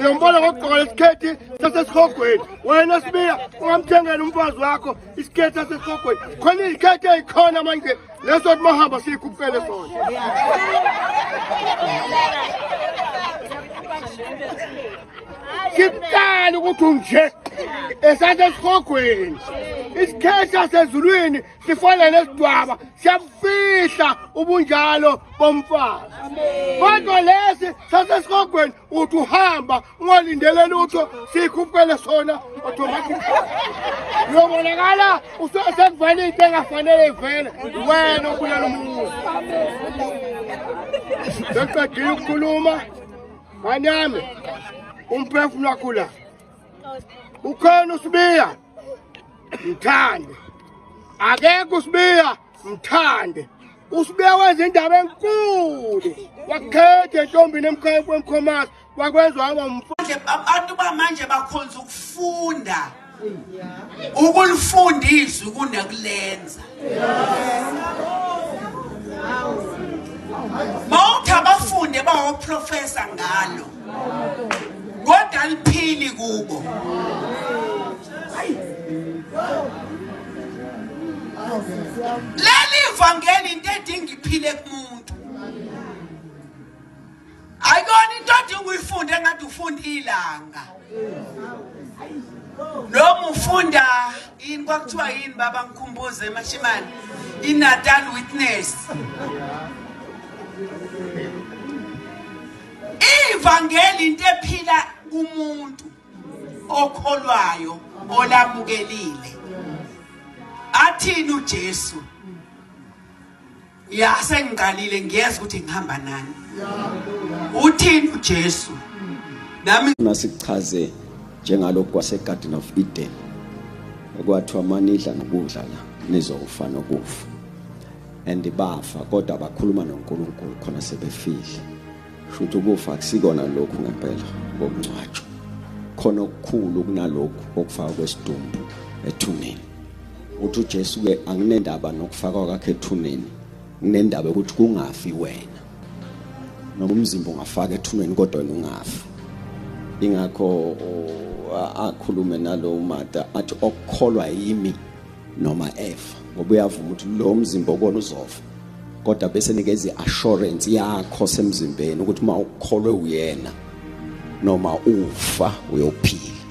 Uyombona ngokugqoka lesikhethi sasesihogweni wena sibiya ungamthengela umfazi wakho isikhethi sasesihogweni khona izikhethi ezikhona manje leso kuthi mahamba siyikhuphele sona siqala ukuthi unje esasesihogweni isikhethi sasezulwini sifana nesidwaba siyabufihla ubunjalo bomfazi kodwa lesi sasesihogweni uthi uhamba ungalindele lutho sikhupukele sona automatic uyobonakala usekuvala into engafanele ivele wena obulala umuzi seqedile ukukhuluma nganyame umphefumulo wakho la ukhona usibiya mthande akekho usibiya mthande usibiya wenza indaba enkulu wakhethe ntombini emkhaya kwemkhomasi wakwenza waba mfanje abantu bamanje bakhonza ukufunda ukulifunda izwi kunakulenza mawuthi abafunde bawoprofesa ngalo kodwa aliphili kubo leli vangeli into edinga iphile kumuntu ayikona into odinga uyifunde ngathi ufunda ilanga noma ufunda yini kwakuthiwa yini baba ngikhumbuze emashimane inatal witness Ivangeli into ephila kumuntu okholwayo olamukelile. Athini uJesu? Ya sengiqalile ngiyeza ukuthi ngihamba nani. Uthini uJesu? Nami nasichaze njengalokho kwase Garden of Eden. Okwathiwa manidla nokudla la nizowufa nokufa. and bafa kodwa bakhuluma noNkulunkulu khona sebefile futhi ukufa kusikona lokhu ngempela ngokungcwatshwa khona okukhulu kunalokhu okufaka kwesidumbu ethuneni uthi uJesu ke anginendaba nokufakwa kwakhe ethuneni nginendaba ukuthi kungafi wena noma umzimba ungafaka ethuneni kodwa wena ungafi ingakho akhulume nalo mata athi okukholwa yimi noma efa ngoba uyavuma ukuthi lo mzimba okona uzofa kodwa bese nikeza i-assurance yakho semzimbeni ukuthi uma ukholwe uyena noma ufa uyophila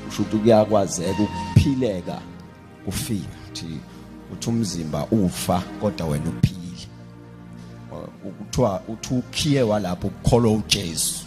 usho ukuthi kuyakwazeka ukuphileka kufika ukuthi uthi umzimba ufa kodwa wena uphile kuthiwa uthi ukhiye walapho ukukholwa uJesu